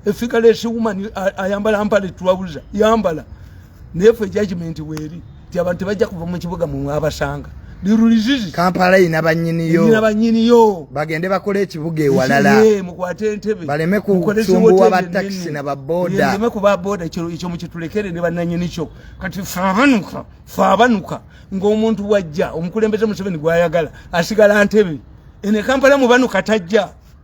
efigalesi woman ayambala mpale twabuza yambala naye fe judgment weeri ti abantu tebajja kuva mu kibuga mwabasanga lirulizizi kampala ina banyiniyo ina banyiniyo bagende bakole ekibuga ewalala mukwate entebe baleme kusumbuwa ba taxi na baboda baleme kuba boda ekyo ekyo mukitulekere ne bananyini kyo kati fabanuka fabanuka ng'omuntu wajja omukulembeze museveni gwayagala asigala ntebe ene kampala mubanu katajja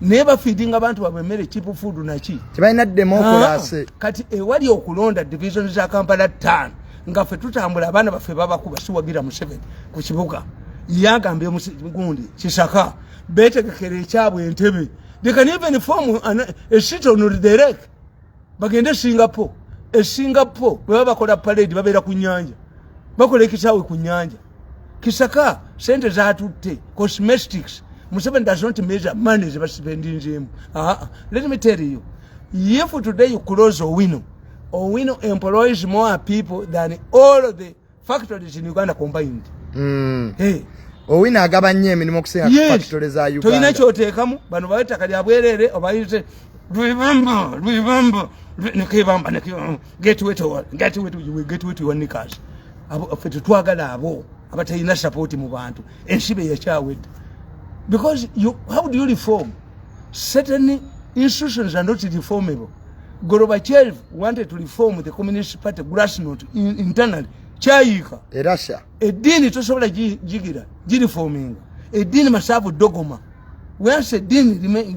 naye bafeedinga abantu babwe emmere cheap food naki tebalina demokulase ah, kati ewali okulonda division za kampala tan nga fe tutambula abaana baffe babakuba siwagira museveni ku kibuga yagambye gundi kisaka betegekera ekyabwe entebe they can even form a city on the lake bagende e singapore e singapore bwebaba bakola parade babeera ku nyanja bakola ekisaawe ku nyanja kisaka sente zatutte cosmetics museveni does not measure money zebasipendinzemu aa let me tell you if today you close owino owino employs more people than all the factories in uganda combined mm. hey. owina agaba nnyo emirimu okusinga yes. factory za uganda tolina kyoteekamu bano bawe ettaka lya bwereere obayite lwebamba lwebamba nekebamba getwetwanikas fe tetwagala abo abatalina sapooti mu bantu ensi be yakyawedde because you, how do you reform certain institutions are not reformable Gorbachev wanted to reform the Communist Party grassroots in, internally. Chayika. E Russia. E dini to sobola jigira. Jiri forming. E dini masabu dogoma. When se dini remain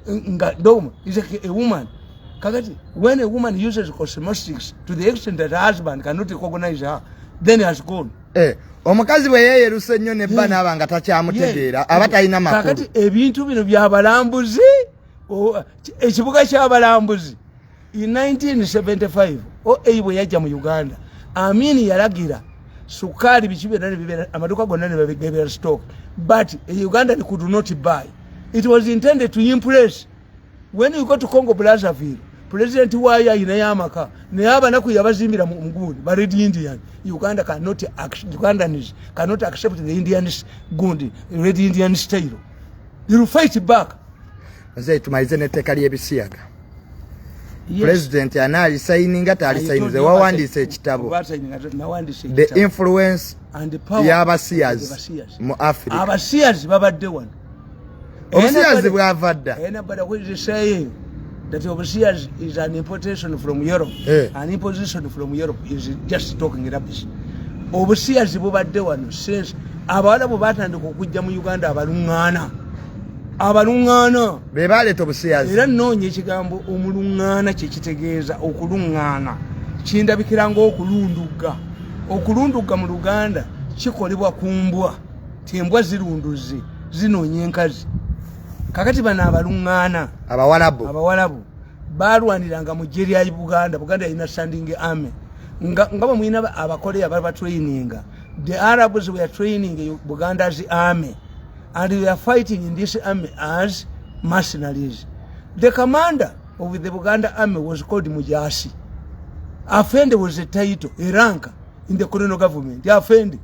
nga dogoma is a, a woman. Kakati, when a woman uses cosmetics to the extent that her husband cannot recognize her, then he has gone. Eh, omukazi bwe yeeyeruse ennyo ne bba naaba nga takyamutegeera aba talina makulu kakati ebintu bino byabalambuzi ekibuga kyabalambuzi in 1975 oa bwe yajja mu uganda amini yalagira sukaali biki byonna nebibeera amaduuka gonna nebagebeera stock but e uganda they could not buy it was intended to impress when you go to congo brazaville president wayo ayinayo amaka naye abanaku yabazimbira mugundi bared indian uganda cannot ugandans cannot accept the indian gundi red indian style you will fight back nze tumalize n'etteeka ly'ebisiyaga pulezidenti anaalisayininga taalisayininze wawandiisa ekitabo the influence y'abasiyazi mu africa abasiyazi babadde wano obusiyazi bwava dda that overseas is an importation from Europe eh. an imposition from Europe is just talking rubbish obusiyazi bubadde wano since abawala bwe batandika okujja mu uganda abalung'aana abalung'aana be baleeta obusiyazi era nnoonya ekigambo omulung'aana kye kitegeeza okulung'aana kindabikira ng'okulundugga okulundugga mu luganda kikolebwa ku mbwa ti embwa zirunduzi zinoonya enkazi kakati bano abaluŋŋaana abawalabu abawalabu balwaniranga mu ggye lya buganda buganda yalina standing army nga bwe mulina abakoleya bali batraininga the arabs were training buganda's army and they are fighting in this army as mercenaries the commander of the buganda army was called mujasi afende was a title a rank in the colonial government afende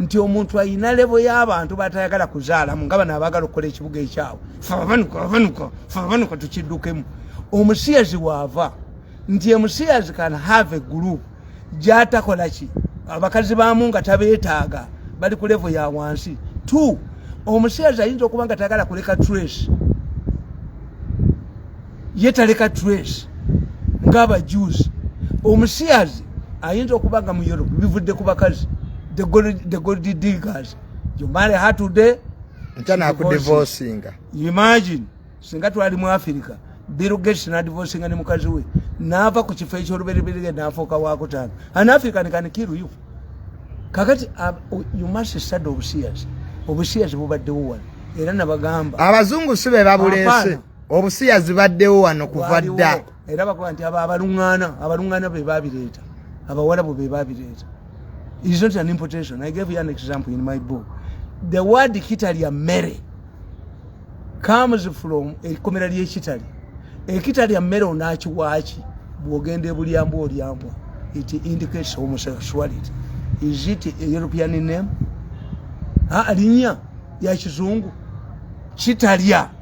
nti omuntu ayina lebo y'abantu batayagala kuzaalamu nga bano abagala okukola ekibuga ekyawe fababanuka babanuka fababanuka tukiddukemu omusiyazi waava nti emusiyazi kan have group gyatakola ki abakazi baamu nga tabeetaaga bali ku levo ya wansi t omusiyazi ayinza okuba nga tayagala kuleka trace ye taleka trace ng'abajuuzi omusiyazi ayinza okuba nga mu europe bivudde ku bakazi the gold diggers you marry her today imagine singa twali mu afirika birugates nadivosinga ne mukazi we naava ku kifo ekyolubereberere nafuuka wakutaano an african can kill you kakati uh, you must sad obusiyazi obusiyazi bubaddewo wano era nabagamba abazungu si be babuleese obusiya zibaddewo wano kuva dda era bakuba nti abo abalung'ana abalung'ana be babireeta abawalabu be babireeta is not an importation i gave you an example in my book the word kitalya mmere comes from ekkomera ly'ekitali ekitalya mmere onaakiwaaki bw'ogenda ebulyambwa olyambwa it indicates homosexuality is it a european name ah, alinya ya kizungu kitalya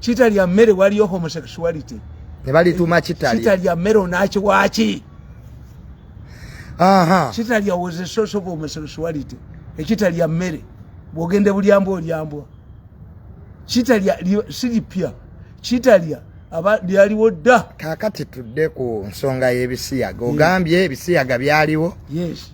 kitalya mmere waliyo homosexuality nebalituuma kitalya kitalya mmere onaaki waaki kitalya was a source of homosexuality ekitalya mmere bwogende bulyambwa olyambwa kitalya siripya kitalya aba lyaliwo dda kakati tudde ku nsonga y'ebisiyaga ogambye ebisiyaga byaliwo yes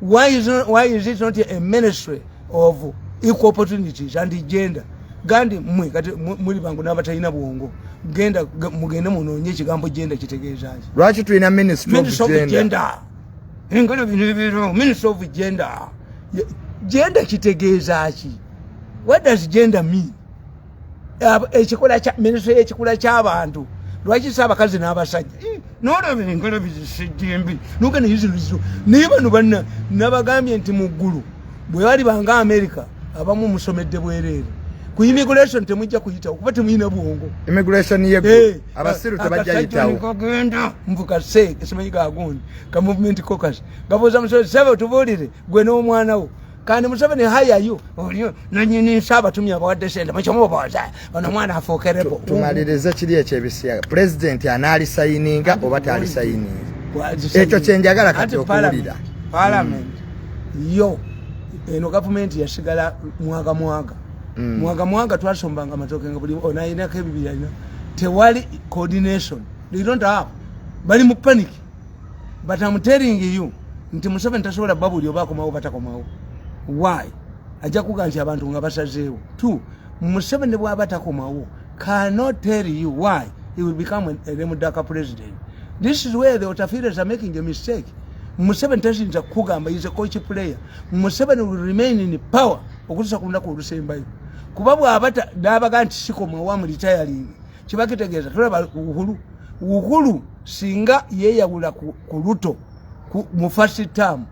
Why is, not, why is it not a ministry of equal opportunities and gender? Gandi mwe kati muli bangu nabatalina bwongo genda mugende munonye ekigambo genda kitegeeza ki lwaki tulina ministry of gender engalo bino bino ministry of gender gender kitegeeza ki what does gender mean ekikula kya ministry yekikula kyabantu lwaki sa abakazi n'abasajja eh, nolaba enkala bizisejjembi noga naye zino zizo naye bano banna nabagambye nti mu ggulu bwe bali banga amerika abamu musomedde bwereere ku immigration temujja kuyitawo kuba temuyina bwongo immigration ye eh, abasiru tebajja yitawo kagenda mvuka se esimanyi gagundi ka movement caucus gabuuza musozi sebe otubulire gwe n'omwana wo kandi museveni hayayo olio nanyini nsaba tumya abawadde sente mukyomubaza ono omwana afuukerebo tumalirize kiri ekyo ebisiyaga pulezidenti anaalisayininga oba taalisayininga ekyo kyenjagala kati okuwulira palamenti mm. yo eno gavumenti yasigala mwaga mwaga mm. mwaga mwaga twasombanga amatoke nga buli onalinako ebibirina tewali coordination they don't have bali mu panic but am telling you nti museveni tasobola bba buli oba akomawo batakomawo why ajja kuga nti abantu nga basazeewo t museveni bwaba takomawo cannot tell you why he will become a remudaka president this is where the otafires are making a mistake museveni tayinza kukugamba is a coach player museveni will remain in power okutusa ku lunaku olusembayo kuba bwaba nabaga nti sikomawo amulitayalingi kiba kitegeeza tulaba uhulu uhulu singa yeyawula ku, ku luto ku, mu first term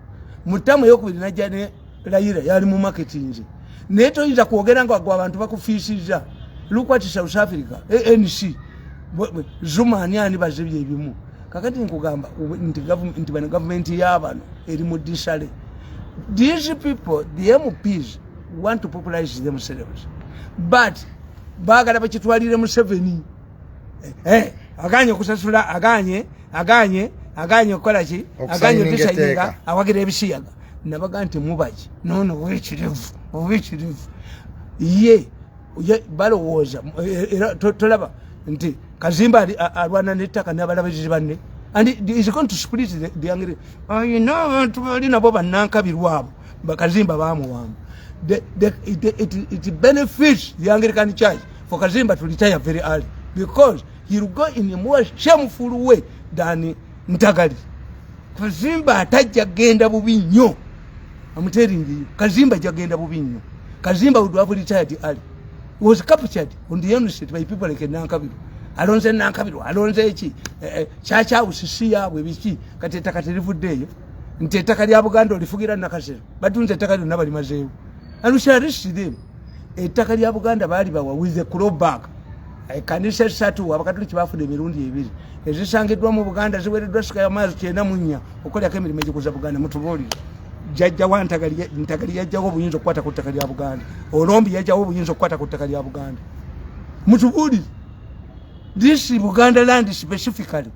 mu term eyokubiri najja ne layira yali mu marketinze naye toyinza kwogera nga gwe abantu bakufiisizza lukwati south africa anc zuma ani ani bazibye ebimu kakati nkugamba nti bano gavumenti yabano eri mu disale these people the mps want to popularize themselves but bagala bakitwalire museveni eh, eh, aganye okusasula aganye aganye aganye okukola ki aganye otusainga awagira ebisiyaga nabaga nti mubaki nono owekirevu owekirevu ye balowooza eh, era tolaba nti kazimba alwana nettaka nabalabirizi banne and is going to split the, the angry ayina abantu bali nabo banankabirwabo bakazimba bamuwamba the, the, it, it, it benefits the anglican church for kazimba to retire very early because he'll go in a more shameful way than ntagali kazimba atajja genda bubi nnyo amuteringiyo kazimba jagenda bubi nnyo kazimba would have retired early was captured on the university by people like nankabiro alonze nankabiro alonze eki eh, eh, chacha usisi yabwe biki kati etakati livuddeeyo nti ettaka lya buganda olifugira nakasero batunze ettaka lyonna balimazeewo anusharisidem ettaka lya buganda baali bawa with a crowback ekanisa esatu abakatuliki bafuna emirundi ebiri ezisangiddwa mu buganda ziwereddwa sika yamaazi kyenda munya okukolerako emirimu egikuza buganda mutubuulire jajjawo ntagali yajjawo obuyinza okukwata ku ttaka lya buganda olombi yajjawo obuyinza okukwata ku ttaka lya buganda mutubuulire this buganda land specifically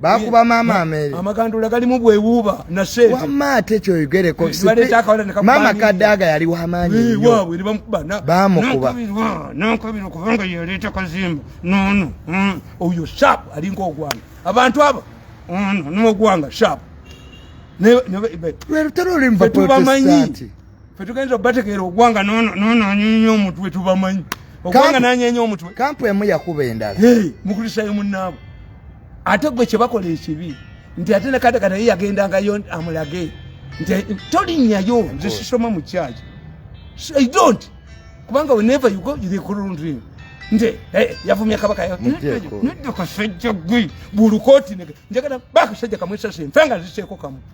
bakuba mama ameri amagandula gali mu bwewuba na shade wama ate kyo yigere ko mama kadaga yali wa manyi eh, yo wabwe riba mkuba na bamu kuba na nkabira kubanga yeleta kazimba no no mm. oyo sharp ali ngo gwanga abantu aba mm, no no gwanga sharp ne ne lwe tero limba protestanti fe tugenza obategeera ogwanga nononyenya omutwe tubamanyi ogwanga nanyenya omutwe kampu emu yakuba endala mukristayo munaabo ate gwe kyebakola ekibi nti ate nekatakata ye yagendangayo amulage nti tolinyayo nze sisoma mu kyaki i don't kubanga whenever you go yourekurundrin nti eh, yavumya kabaka nodde kasajja gwe bulukooti njagala bakasajja kamwesase nfenga ziseeko kamu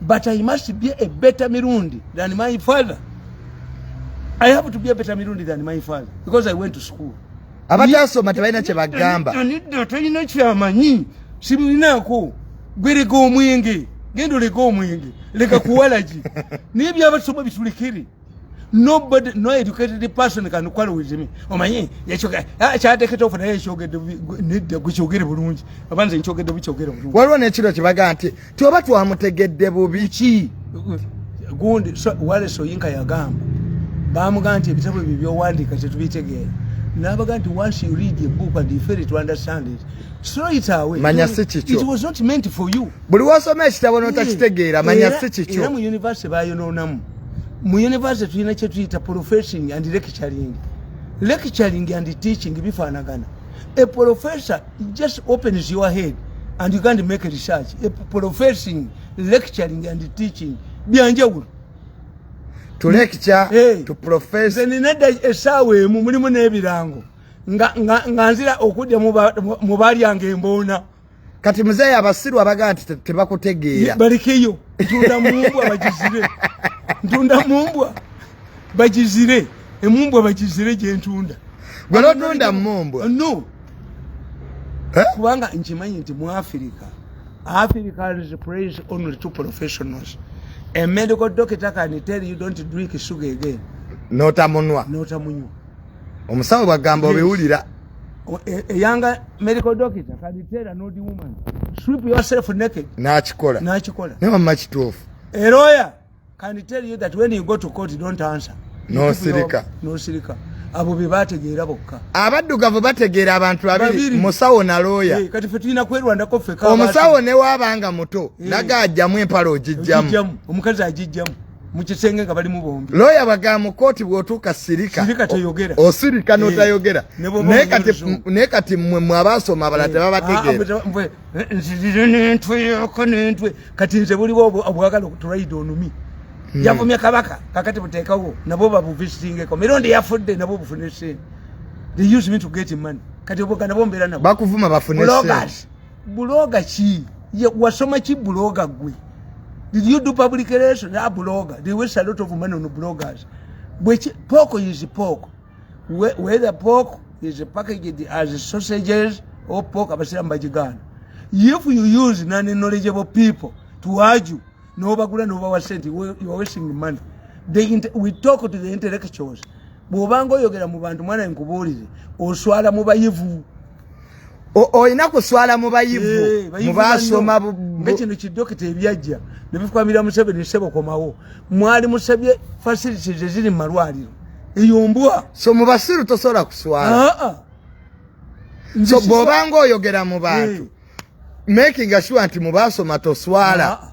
but I must be a better Mirundi than my father. I have to be a better Mirundi than my father because I went to school. Abatasoma tebalina kye bagamba. Anidda talina kyamanyi sibulinaako gwe leka omwenge genda oleka omwenge leka kuwalagi naye byabasoma bitulekere nobody no educated person can quarrel with me omanyi yachoka ah, kyateketa ofuna yachogede nidde guchogere bulungi abanze nchogede buchogere bulungi waliwo nekiro kibaga nti tioba twamutegedde bubi ki gundi so, wale soyinka yagamba bamugaa nti ebitabo ebyo byowandika tetubitegeera nabaga nti once you read a book and you fail to understand it throw it away manya si kikyo it was not meant for you buli wasoma ekitabo notakitegeera eh, manya si kikyo era mu university bayonoonamu mu university tulina kyetuyita professing and lecturing lecturing and teaching bifaanagana a professor just opens your head and you can't make a research a professing lecturing and teaching byanjawulo tulekicaenenedda eh. esaawa emu mulimu n'ebirango nga nzira okudda mu balyange emboona kati muzeeyi abasiru abagaa nti tebakutegeera balekeyo ntunda mumbwa bagizire ntunda mumbwa bagizire emumbwa bagizire gyentunda gwe lotunda mumbwa no eh? kubanga nkimanyi nti mu afirika afirika is praise only two professionals a medical doctor can tell you don't drink sugar again notamunwa notamunywa omusawo bwagamba obiwulira eyanga e, e medical doctor kabiteera nodi woman strip yourself naked nakikola nakikola naye wamma kituufu eroya can tell you that when you go to court don't answer nosirika nosirika abo be bategeera bokka abaddugavu bategeera abantu babiri musawo na looya eh, kati fe tulina kwerwandako fe omusawo newaabanga muto eh. naga ajjamu empala ogijjamu omukazi agijjamu mukisenge nga balimu bombi lawyer baga mu koti bwotuka sirika sirika tayogera osirika oh, no eh, tayogera ne kati ne kati mwe mwabasoma bala tebaba eh, tegera ah, mwe eh, nzirire ne ntwe yoko ne ntwe kati nze buli bobo abwagala kuturaide onumi hmm. yavumya kabaka kakati butekawo nabo babu visiting ko mirundi yafudde nabo bufune sente they use me to get money kati obogana bombera nabo bakuvuma bafune sente buloga ki wasoma ki buloga gwe did you do public relation na buloga they waste a lot of money on bloggers which pork is pork whether pork is packaged as sausages or pork abasiramu bagigana if you use non knowledgeable people to argue nobagula nobawa sente you are wasting money they we talk to the intellectuals bwobanga oyogera mu bantu mwana nkubuulire oswala mu bayivu olina kuswala mu bayivu eh, mubasoma ngekino kidokita ebyajja nebifukamira museveni nsebo komawo mwali musabye facilities eziri mu malwaliro eyo mbwa so mu basiru tosobola kuswala ah, ah. so bwobanga oyogera mu bantu eh. making sure nti mubasoma toswala ah,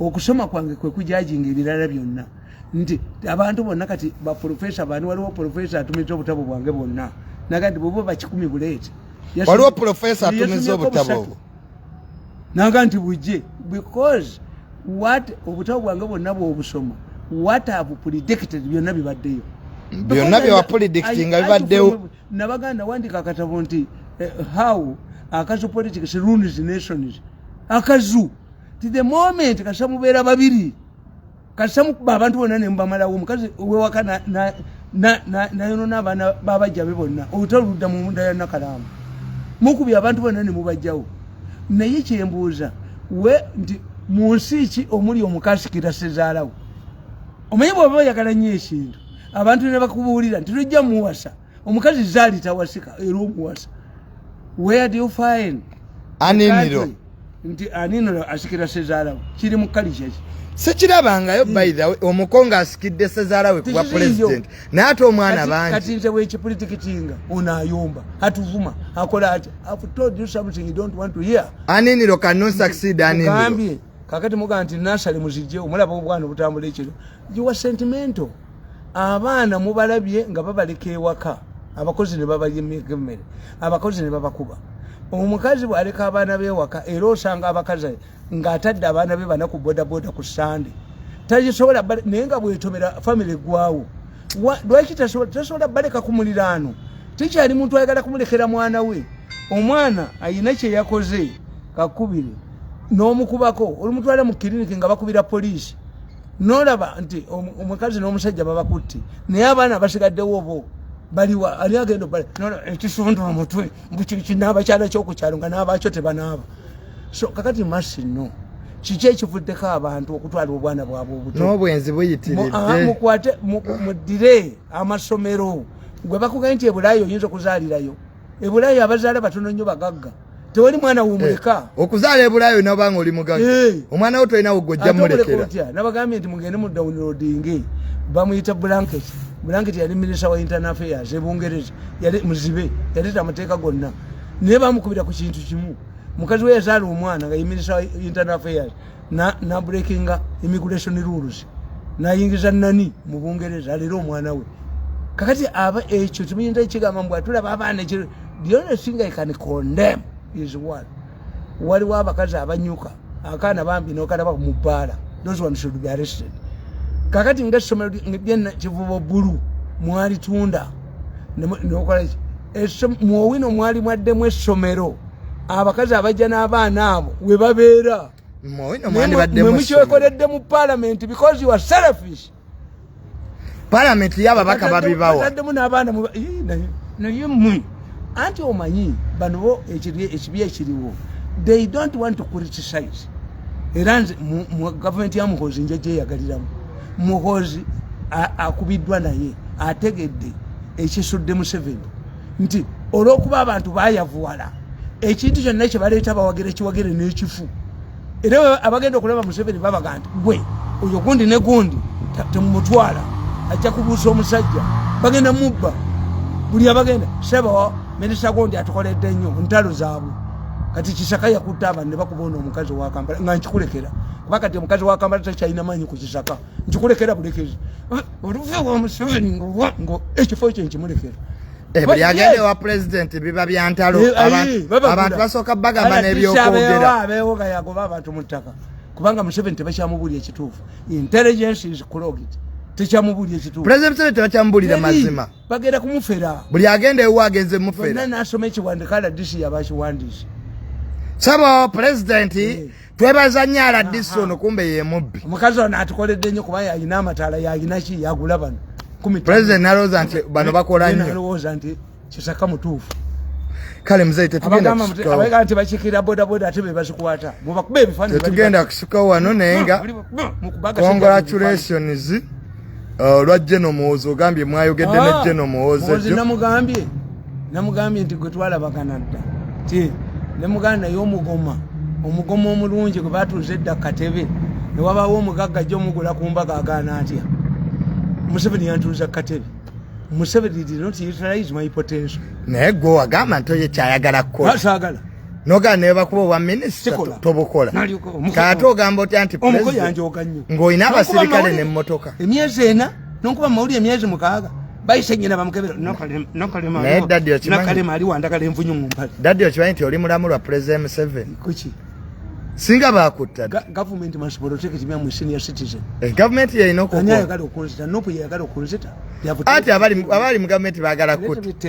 okusoma kwange kwe kujajinga ebirala byonna nti abantu bonna kati baprofesa bani waliwo profesa atumiza obutabo bwange bwonna naga nti bweba bakikumi buleeti waliwo profesa atumiza obutabo naga nti bujje because wat obutabo bwange bwonna bwobusoma wat have predicted byonna bibaddeyo byonna byewapredicti nga bibaddewo nabaganda wandika akatabo nti eh, how akazu politics runes nations akazu ti the moment kasita mubeera babiri kasita mukuba abantu bonna nemubamalawo omukazi owewaka nayonona abaana babajja be bonna olutalo ludda mu munda ya nakalaamu mukubi abantu bonna nemubajjawo naye kyembuuza we nti mu nsi ki omuli omukazi kitasezaalawo omanyi bwaba oyagala nnyo ekintu abantu nebakubuulira nti lujja muwasa omukazi zali tawasika era omuwasa where do you find aniniro nti aniniro asikira sezalawo kiri mu kalikyaki sekirabangayo hmm. by the way omuko nga asikidde sezaala we kuba president naye ate omwana bangi kati nze wekipolitiki kinga ono ayomba atuvuma akola ati have told you something you don't want to hear aniniro can not succeed aniniro gambye kakati muga nti nasali muzijje omulaba obwana obutambula ekiro you were sentimental abaana mubalabye nga babaleka ewaka abakozi ne babayimika emmere abakozi ne babakuba omukazi bwaleka abaana bewaka era osanga abakazi ng'atadde abaana be bana ku bodaboda ku sande tagisobola naye nga bwetomera famiry eggwawo lwaki tasobola baleka ku muliraano tekyali muntu ayagala kumulekera mwana we omwana ayina kyeyakoze kakubire n'omukubako olumutwala mu kiriniki nga bakubira poliisi nolaba nti omukazi n'omusajja babakutti naye abaana basigaddewo obo baliwa ali agenda obale ekisonda omutwe naabakyala kyokukyalo nga naabakyo tebanaaba so kakati masi no kiki ekivuddeko abantu okutwala obwana bwabwe obutnobwenzi buyitiriddemukwate muddire amasomero gwe bakugae nti ebulaayo oyinza okuzaalirayo ebulayo abazaala batono nnyo bagagga tewali mwana wumuleka eh, okuzaala ebulayo nabanga oli mugaga eh. omwana wo tolina wogojja mulekera nabagambye nti mugende mu downloading bamuyita blanket blanket yali minisa wa internal affairs ebungereza yali muzibe yali tamateeka gonna naye bamukubira ku kintu kimu mukazi we yazaala omwana nga ye minisa wa internal affairs na, na breakinga immigration rules nayingiza nani mu bungereza alera omwana we kakati aba ekyo kimuyinza ekigamba mbu atulaba abaana ekyo the only thing i can condemn is one waliwo abakazi abanyuka akaana bambi nokalaba mu bbaala those one should be arrested kakati nga essomero lyena kivubo bulu mwalitunda nokola mwowino mwali mwaddemu essomero abakazi abajja n'abaana abo we babeera mwemukyekoledde mu palamenti because you are selfish palamenti yababaka babibawaddemu n'abaana naye mwe anti omanyi bano bo ekibi ekiriwo they don't want to criticize era nze mu gavumenti ya muhozi njajeyagaliramu muhozi akubiddwa naye ategedde ekisudde museveni nti olwokuba abantu bayavuwala ekintu kyonna kyebaleeta bawagira ekiwagire n'ekifu era abagenda okulaba museveni babaga nti gwe oyo gundi ne gundi temumutwala ajja kubuusa omusajja bagenda mubba buli abagenda sebo minisita gundi atukoledde nnyo ntalo zaabwe kati kisaka yakutta abantu ne bakuba ono omukazi owa kampala nga nkikulekera kuba kati omukazi wa kamala takyalina maanyi ku kisaka nkikulekera bulekezi ah, oluve wa museveni nga ekifo kye nkimulekera eh, buli agenda ewa pulezidenti biba bya ntalo eh, abantu basooka bagamba n'ebyokwogerabeewoga yagoba abantu mu ttaka kubanga museveni tebakyamubuulira ekituufu intelligence is clogged tekyamubulira ekituufu pulezidenti museveni tebakyamubulira mazima bagenda kumufera buli agenda ewa agenze mufera nasoma ekiwandika rdc yabakiwandiisa sabo pulezidenti eh. twebaza nnyo aladisi ono kumbe yemubbi omukazi ono atukoledde nnyo kuba yalina amataala yalinaki yagula bano president nalowooza nti bano bakola nnyo nalowooza nti kisaka mutuufu kale mzee tetugenda kusikawo abagamba nti bakikira bodaboda ate be bazikwata mubakuba ebifaananyi tetugenda kusikawo wano naye nga congratulations olwa uh, jeno muwozi ogambye mwayogedde ne ah, jeno muwozi namugambye namugambye nti gwe twalabagana dda ti nemuganda naye omugoma omugoma omulungi gwe batuuza edda katebe newabawo omugagga jjo omugula ku mbaga agaana atya museveni yantuuza katebe museveni did not utilize my potential naye gwe wagamba nti oyo kyayagala kukola noga nebakuba obwa minisita tobukola kaate ogamba otya nti ng'olina abasirikale nemmotoka emyezi ena nonkuba mumawulire emyezi mukaaga bayise nyina bamukebera nokalema ali wandagala envunyu mumpale dadi okimanyi nti oli mulamu lwa pulezida museveni kuki singa bakutta gavumenti masibolotekitibyamusenior citizen eh, gavumenti yalina okuayagala okunzita nopu yayagala okunzita ati abali mu gavumenti bagala kutta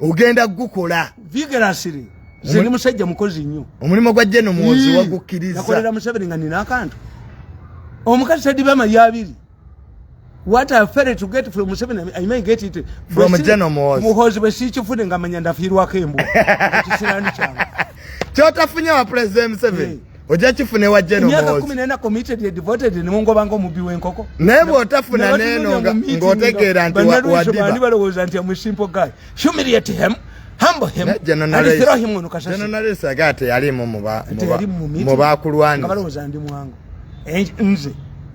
ogenda gukola vigorously nze ni musajja mukozi nnyo omulimu gwa jeno muwozi wagukkiriza nakolera museveni nga nina akantu omukazi tadiba amalya abiri what i fere to get from museveni i may get it from jeno muwozi muhozi bwe siikifune nga manya ndafiirwako embwa ekisirani kyange kyotafunye wa president museveni ojja kifuna ewa jenomyakakminenakkomitededvotedenemungobange omubbi wenkoko naye bwotafuna neno ngaotegeera nti wadiba balowooza nti amusimpo guy humiliate him hambhmnalesage ate yalimu mubakulwanbalowooza ndi mwangu nze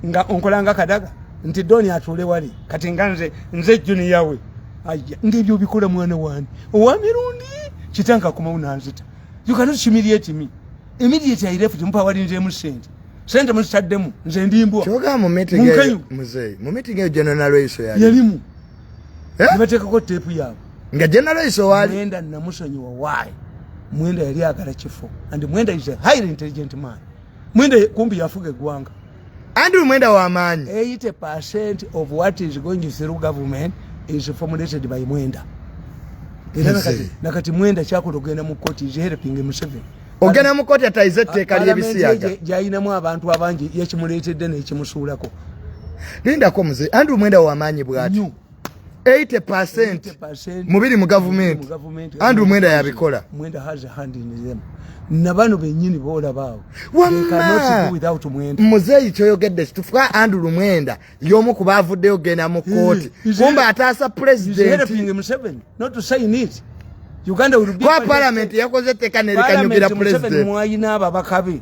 nga onkolanga kadaga nti doni atuule wali kati nga nze nze juniyawe aya ngaebyo obikola mwana wani owamirundi kitankakumaunanzita you cannot humiliate me immediately i left mpa wali nje musente sente musitaddemu nze ndimbwa kyoga mu meeting eyo mzee mu meeting eyo general iso yali yalimu eh nibatekako tape yabo nga general iso wali nenda namusonyiwa why mwenda yali agala kifo and mwenda is a highly intelligent man mwenda kumbi yafuga egwanga Andrew Mwenda wa maanyi. 80% of what is going through government is formulated by Mwenda. Era nakati, nakati Mwenda kyakola ogenda mu court is helping Museveni. Ogenda mu court atayize etteeka ly'ebisiyaga. Gyayinamu abantu abangi yakimuleetedde n'ekimusuulako. Lindako mzee. Andrew Mwenda wa maanyi bwati. 80% mubiri mu gavumenti andrew mwenda yabikola mwenda has a hand in them nabano benyini bola bawo muzeyi kyoyogedde kitufuka andu lumwenda yomu kuba avuddeyo genda mu kooti kumba ataasa pulezidentikwapalament yakoze teka nerikanyugira pulezidenti mwayina ababakabe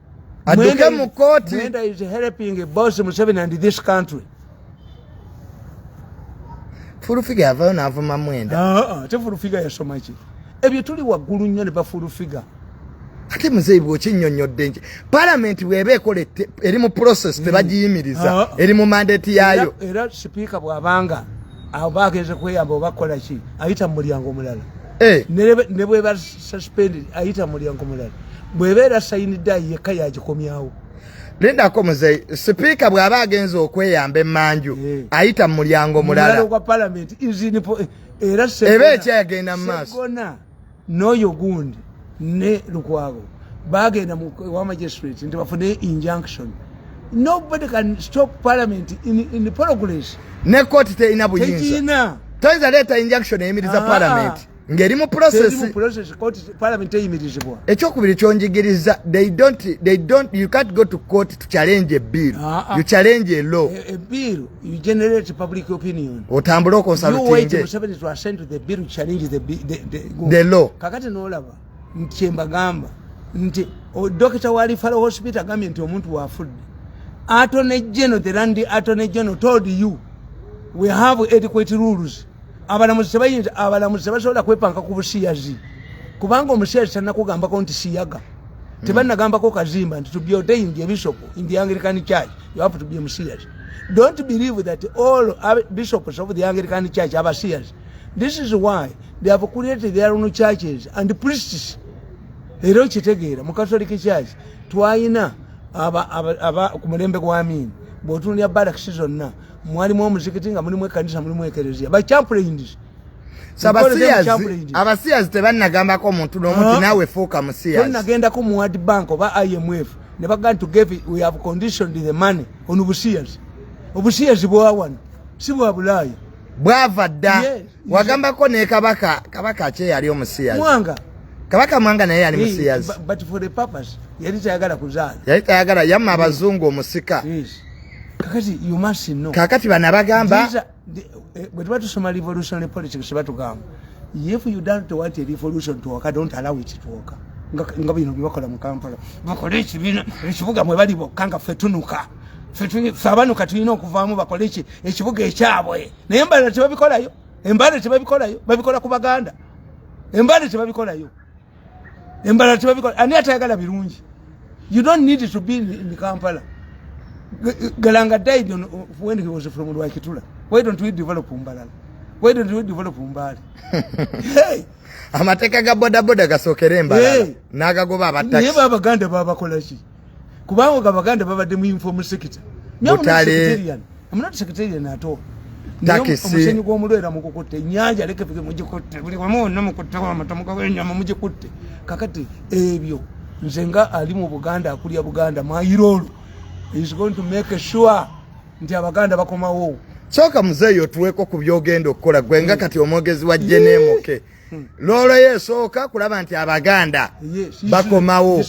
aduke mu kooti mwenda is helping boss museveni and this country fulufiga yavayo navuma mwenda ah, ah, ate fulufiga yasoma ki ebyo tuli waggulu nnyo ne bafulufiga ate muzeeyi bwokinyonyodde nki palamenti bweba ekola eri mu process hmm. tebagiyimiriza ah, eri mu mandate yaayo era sipiika bwabanga abo bagenze kweyamba obakola ki ayita mu mulyango omulala eh. ne bwebazza suspended ayita mulyango mulala bweba era sayinidde ayi yekka yagikomyawo lindako muzeyi sipiika bw'aba agenza okweyamba emanju eh. ayita mu mulyango mulala eba ekyagenda mu maaso n'oyo gundi ne lukwago bagenda wa magistrate nti bafune injunction nobody can stop parliament in, in the progress ne kooti terina buyinza toyinza leeta injunction eyimiriza ah. parliament ngeri mu process ekyokubiri kyonjigiriza they don't they don't you can't go to court to challenge a bill ah, ah. you challenge a law a, a bill you generate public opinion otambula okonsalutinge the law kakati nolaba nkyembagamba nti dokita wa lifalo hospital agambye nti omuntu wafudde atone geno the landi atone geno told you we have adequate rules abalamuzi tebayinza abalamuzi tebasobola kwepanka ku busiyazi kubanga omusiyazi tanakugambako nti siyaga hmm. tebanagambako kazimba nti tubyote in the bishop in the anglican church you have to be omusiyazi don't believe that all bishops of the anglican church abasiyazi this is why they have created their own churches and priests era okitegeera mu catholic church twalina ku mulembe gwa miini bwotunulya barakisi zonna mwalimu omuzikiti nga mulimu ekanisa mulimu ekereziya by champulains abasiyazi tebanagambako omuntu nomu ti nawe fuuka musiyazinagenda-ku mu word bank oba imf ne bagaa nti gave we have conditioned the money on busiyazi obusiyazi bwawano si bwa bulaaya bwava dda wagambako ne kabaka kabaka kye yali omusiyazi mwanga kabaka mwanga naye yali musiyazi but for the purpose yali tayagala kuzaala yali tayagala yamma abazungu omusika yes. kakati you must know kakati bana bagamba eh, bwe tuba tusoma revolutionary politics batugamba if you don't want a revolution to occur don't allow it to occur nga bino byebakola mu kampala bakole ekibiina ekibuga mwe bali bokka nga ffe tunuka ffe abanuka tulina okuvaamu bakole ki ekibuga ekyabwe naye embala tebabikolayo embala tebabikolayo babikola ku baganda embala tebabikolayo embala tebabikola ani atayagala birungi you don't need to be in kampala galanga died on, when he was from lwakitula why don't we develop mbalala why don't we develop mbaale hey. amateeka ga bodaboda gasookere embala hey. n'agagoba abattaki naye baabaganda baabakolaki kubanga nga baganda babadde mu uniform sector mutale I'm not secretarian at all omusenyi gw'omulwera mukukutte enyanja lekefike mugikutte buli wamu wonna mukutte wamatamuka wenyama mugikutte kakati ebyo nze nga ali mu buganda akulya buganda mayiroolo is going to make sure nti abaganda bakomawo kyoka muzeeyi otuweeko ku byogenda okukola gwe nga mm. kati omwogezi wa jeneemoke yeah. loloyo esooka kulaba nti abaganda bakomawo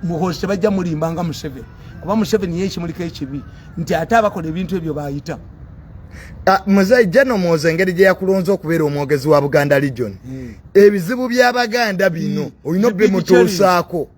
muhozi tebajja mulimba nga museveni kuba museveni ye ekimuliko ekibi nti ate abakola ebintu ebyo bayita ah, muzeyi jeno muhozi engeri gye yakulonza okubeera omwogezi wa buganda legion hmm. ebizibu by'abaganda bino hmm. olina obimutuusaako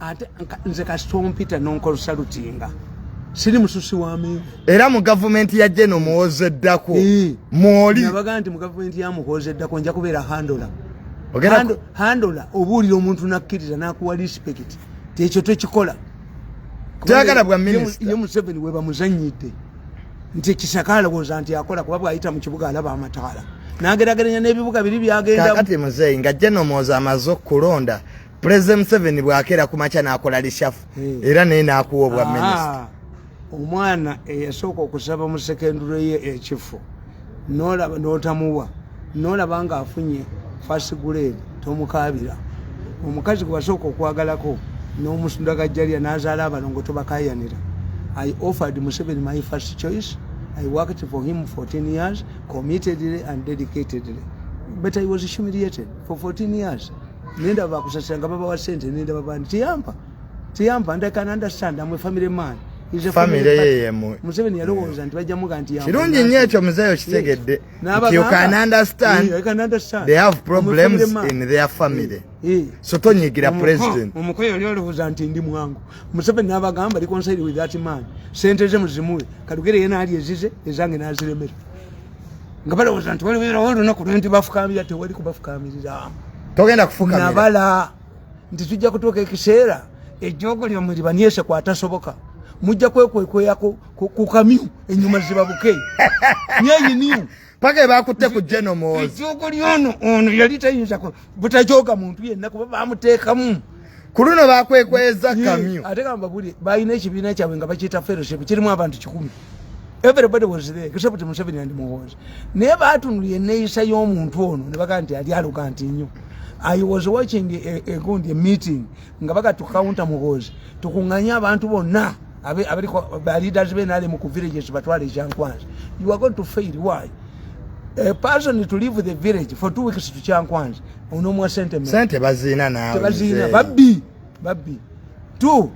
ate nze kasita ompita nonkolusalutinga siri mususi wa menvu era mu gavumenti ya jeno muwoza eddako mwoli nabagaa nti mu gavumenti ya muhoza eddako nja kubeera handola handola obuulira omuntu nakkiriza nakuwa respect tekyo tekikola tayagala bwa minisita ye museveni webamuzanyidde nti ekisaka alowooza nti akola kuba bwayita mu kibuga alaba amataala nagerageranya n'ebibuga biri byagendakati muzeeyi nga jeno muwoza amaze okulonda President Museveni bwakera ku makya nakola lishafu hmm. era naye nakuwa obwa ah, minister. Omwana eyasooka okusaba mu secondary ye ekifo nolaba notamuwa nolaba nga afunye first grade tomukaabira omukazi gwebasooka okwagalako n'omusunda gajjalya n'azaala abalongo tobakayanira i offered museveni my first choice i worked for him 14 years committedly and dedicatedly but i was humiliated for 14 years nenda bakusasira nga babawa sente nenda babandi tiyampa tiyampa and i can understand am a family man famire yeyemu museveni yalowooza nti bajja muga nti kirungi nnyo ekyo muzeeyo kitegedde you can understand they have problems in their family so tonyigira president omukoyo yali olowooza nti ndi mwangu museveni n'abagamba reconcile with that man sente ze muzimuwe kalugere ye naali ezize ezange n'aziremera nga balowooza nti waliwo olunaku lwenti bafukamirira tewali kubafukamirira togenda kufukamira nabala nti tujja kutuuka ekiseera ejoogo lyo mulibanyese kwatasoboka mujja kwekwekwea ku kamyu enyuma zibabuke nyeyiniu paka ebakutte ku jenomozi ejoogo lyono ono yali tayinza butajoga muntu yenna kuba bamutekamu kuluno bakwekweza kamyo ate kamba buli bayina ekibiina kyabwe nga bakiyita fellowship kirimu abantu kikumi everybody was there except museveni and muhozi naye baatunuli eneyisa y'omuntu ono ne bagaa nti ali aluga nti nnyo i was watching a, a, a, a meeting nga baga tukawunta muboozi tukunganye abantu bonna abaliko ba leaders be nali mu ku villages batwale kyankwanzi you are going to fail why a person to leave the village for two weeks to kyankwanzi onomwa sente me sente bazina nawe bazina babbi babbi two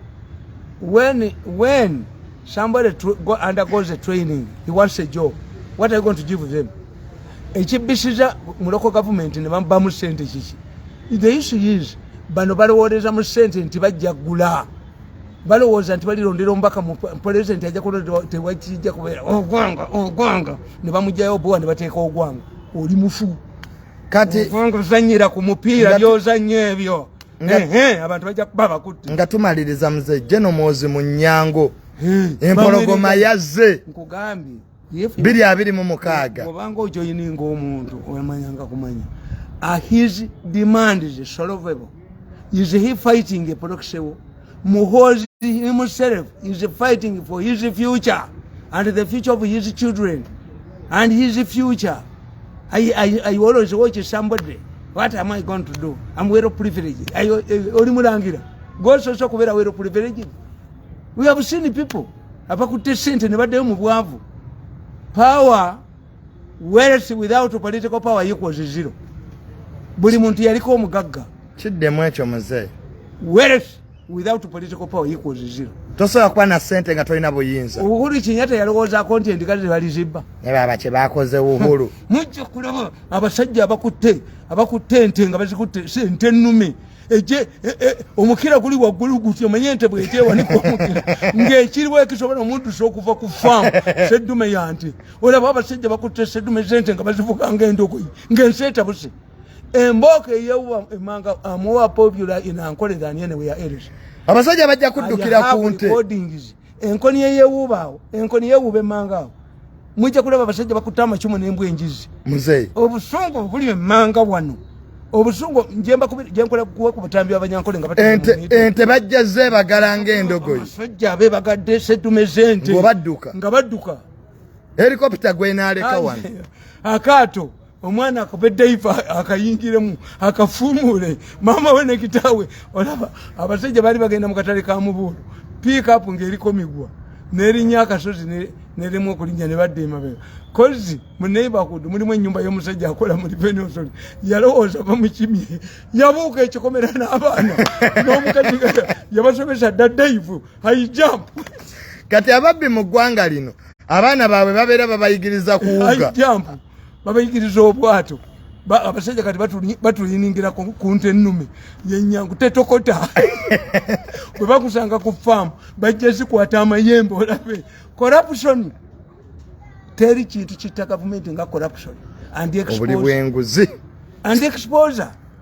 when when somebody to go undergoes a training he wants a job what are you going to give them ekibbisiza muloko gavumenti ne bamubamu sente kiki the issue is bano balowooleza mu sente nti bajja gula balowooza nti balirondera omubaka mu pulezidenti ajja kulonda tewakijja kubeera ogwanga ogwanga ne bamugjayo obuwa ne bateeka ogwanga oli mufu kati ogwanga ozanyira ku mupiira byozanya ebyo abantu bajja kuba bakutte nga tumaliriza mzee jeno mwozi mu nyango empologoma yazze nkugambye biri abiri mu mukaaga obanga ojoyininga omuntu wemanyanga kumanya ah, his demand is solvable is he fighting a proxy war muhozi himself is fighting for his future and the future of his children and his future i, I, I always watch somebody what am i going to do am well privileged eh, oli mulangira gososa okubeera well privileged we have seen people abakutte sente ne baddayo mu bwavu power wealth without political power equals zero buli muntu yaliko omugagga kiddemu ekyo muzeeyi wealth without political power equals zero tosobola kuba na sente nga tolina buyinza uhuru kinyata yalowoozaako nti endiga tebalizibba naye baba kye bakoze uhuru mujja kulaba abasajja abakutte abakutte ente nga bazikutte sente ennume eje e, e, omukira guli waggulu gutya omanye ente bwekyewanika omukira ng'ekiriwo ekisobola omuddusa okuva ku faamu seddume ya nte olaba abasajja bakutte seddume zente nga bazivuga ng'endogoyi ng'ensi etabuse embooko eyewa emanga amuwa popular inankolera anyeneweya eris abasajja bajja kuddukira ku nte enkoni yeyewuuba awo enkoni yewuuba emmanga awo mujja kulaba abasajja bakutte amacumu nembwa enjizi muzeyi obusungu obuli emmanga wano obusungu njemba kubi jenkola kuwa kubutambi abanyankole nga batatu ente ente bajja ze bagala ngendogo sojja be bagadde setume zente ngobadduka ngabadduka helicopter gwe naleka wan akato omwana akuba edayipa akayingiremu akafuumuule maama we ne kitaawe olaba abasajja baali bagenda mu katale ka mubuulu piikapu ng'eriko migwa nerinnya akasozi nerimu okulinnya ne badda emabega kozi mu neighborhood mulimu ennyumba y'omusajja akola mu livenosoli yalowooza bamukimye yabuuka ekikomera n'abaana n'omukazi yabasomesa dda daivu high jump kati ababbi mu ggwanga lino abaana baabwe babeera babayigiriza kuwuga babayigiriza obwato abasajja kati batuyiningira ku nte ennume yenyangu tetokota bwe bakusanga ku faamu bajja zikwata amayembe olabe corruption teri kintu kitta gavumenti nga corruption and exposure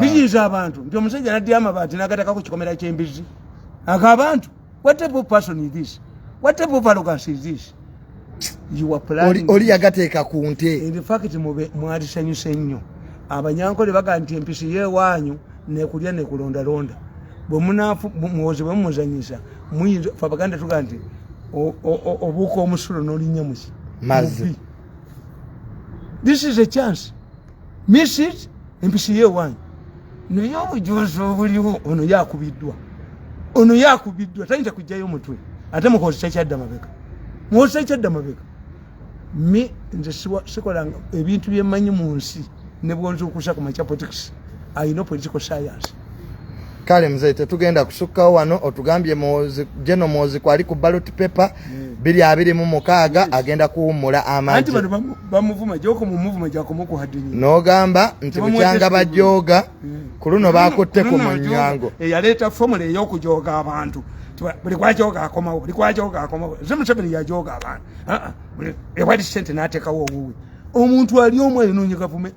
binyiiza abantu nti omusajja naddi amabaati nagatakako kikomera kyembizi ako abantu oli yagateeka ku nte infact mwalisanyusa ennyo abanyankole baga nti empisi yewaanyu nekulya nekulondalonda bwemuwozi bwemumuzanyisa muyinza fe abaganda tuga nti obuuka omusulo nolinya muki mazi this is a chance miss it empisi ye wange naye obujuzi obuliwo ono yakubiddwa ono yakubiddwa tayinza kujjayo mutwe ate mukozesa kyadda mabega mukozesa kyadda mabega mi nze sikolanga ebintu byemanyi mu nsi nebwonzuukusa ku macapotics ayina political science kale mzee tetugenda kusukkawo wano otugambye jeno mwozi kwali ku balot paper mm. biri abiri mu mukaaga mm. agenda kuwummula amagi n'ogamba nti bukyanga bajooga mm. ku luno bakutte ku munyango eyaleeta eh, fomula ey'okujooga abantu buli kwajoga akomawo buli kwajoga akomawo ze museveni yajoga abantu ewali sente n'ateekawo owuwe omuntu ali omu ayinoonye gavumenti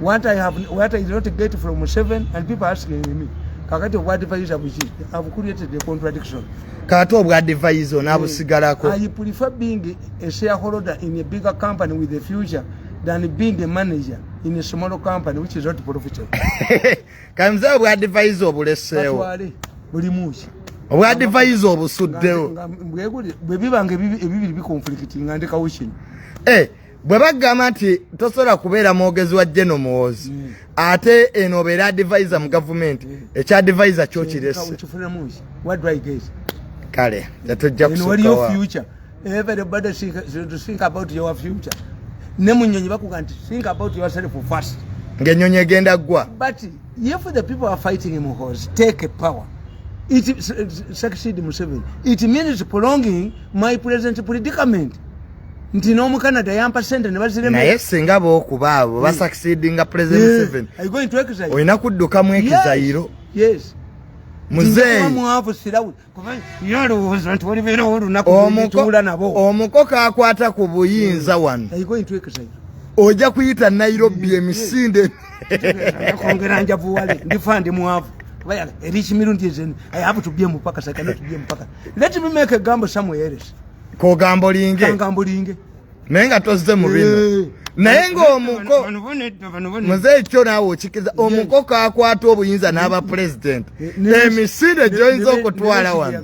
what I have what I did not get from Museven and people asking me kakati obwa advisor buki have created a contradiction kato obwa advisor na busigalako I prefer being a shareholder in a bigger company with a future than being a manager in a smaller company which is not profitable kamza obwa advisor bulesewo buli muki obwa advisor obusuddewo bwe bibange bibiri bikonflikitinga ndekawo kino eh hey. bwe bagamba nti tosobola kubeera mwogezi wa geno muwoozi mm. ate eno obeera adivisa mu gavumenti mm. ekya divisa kyo kirese kale tetujja kusukawa everybody think, to think about your future ne munyonyi bakuga nti think about yourself first ngenyonyi egenda gwa but if the people are fighting him horse take a power it succeed museveni it means prolonging my present predicament nti n'omu canada yampa sente ne baziremnaye singa bookuba abo hmm. basucceedinga president museven olina kudduka mu ekizayiro omukoko akwata ku buyinza hmm. wano oja kuyita nairobi hmm. emisinde kongera njavuwale ndifa ndi mwavu erikimirundi ezeni i have to be a mupaka so i cannot be a mupaka let me make a gambo somewhere else kogamba olinge kangamba olinge naye nga tozze mu bino eh. naye ng'omuko muze ekyo naawe okikiriza omukoko akwata obuyinza n'aba pulezidenti eh, emisinde gyoyinza okutwala wano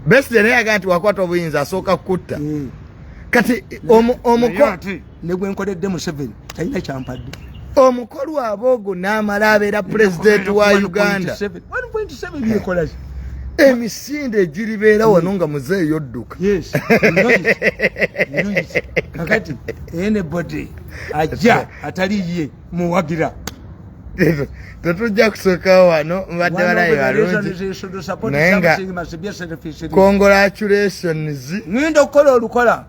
beside naye agaa nti wakwata obuyinza asooka kukutta eh. kati omuko ne gwe nkoledde museveni talina kyampadde omukolu aba ogwo n'amala abeera pulezidenti wa uganda emisinde egiribeera wano nga muze eyodduka kakati enebody ajja atali ye muwagira tetujja kusooka wano mbadde balayi balungi naye nga congratulations ngenda okukola olukola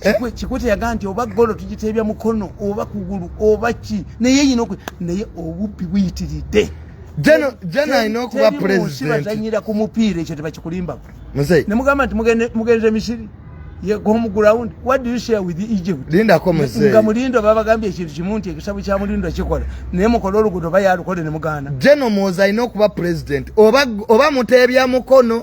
Eh? kikwete yaga nti oba golo tugiteebya mukono oba kugulu oba ki naye yina oku naye obubbi buyitiridde jena alina okuba presidentbazanyira ku mupiira ekyo tebakikulimbamu ne mugamba nti mugenze misiri yegomuground what do you share with egypt lindako mzee nga mulindo baba gambye ekintu kimu nti ekisabu kya mulindo kikola naye mukola olugudo bayalukole ne muganda jeno muoza alina okuba president oba, oba muteebya mukono